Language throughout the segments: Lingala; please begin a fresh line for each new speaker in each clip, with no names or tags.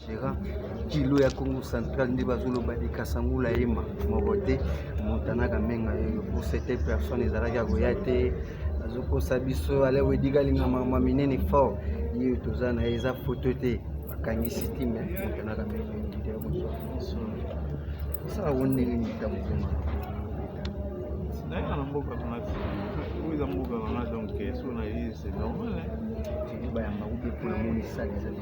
Gérard kilo ya Congo central nde bazoloba de Kasangula Ema moko te Montana Kamenga yoyo pour cette personne ezalaki ya koya te azokosa biso ale wediga alinga mama minene fort ye toza na ye eza foto te bakangisi ti me Montana Kamenga ndide ya kozwa biso osala ngo ndenge nini ta motema nayaa
na mboka kuna te oyo eza mboka wana donc so na ye c'est normal bayamba
kubi mpona moni sali ezali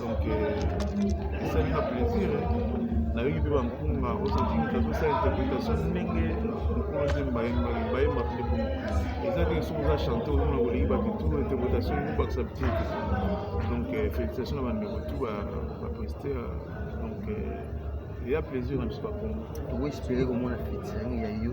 donc euh, esali na plaisir nayoki mpe bampunga ozozingisa tosa interprétation ndenge mokolo zemba bayemba mpe bongo eza te soki oza chante ozomona koleki bato tu interprétation ekobakisa bite te donc euh, félicitation na bandeko tu baprester donc euh, eya plaisir na biso bakongo tokoespere komona
fetisango ya yo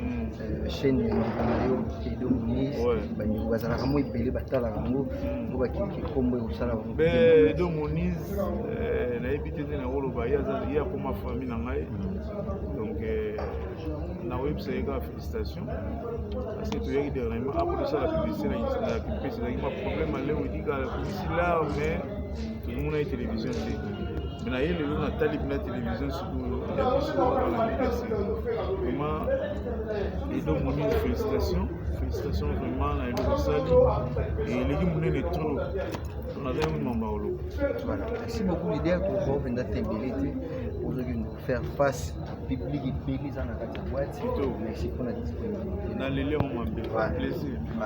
euh, chaîne ya ndeko na yo edo monis bandeko bazalaka mo ebele batalaka yango mpo bakiki nkombo ekosala bango edo monis
euh, nayebi te nde nakoloba ye akoma famille na ngai donc euh, nakoyebisa ye kaka félicitation parce que toyaki dernièrement apo tosala publicité na publicité ezalaki ma problème aleoidika publicité là mais tomonaki télévision te me na ye lelo natali bina televizio sikoyo ya biso wana mpese vraiment edo moni félicitation félicitation vraiment na eloko osali eleki monene trop naza yango mamba oloba voilà merci
beaucoup idée ya kozo mpenza tembele te ozoki faire face public ebele eza na kati ya boite merci
mpona
disponibilité naleli yango
mabe plaisir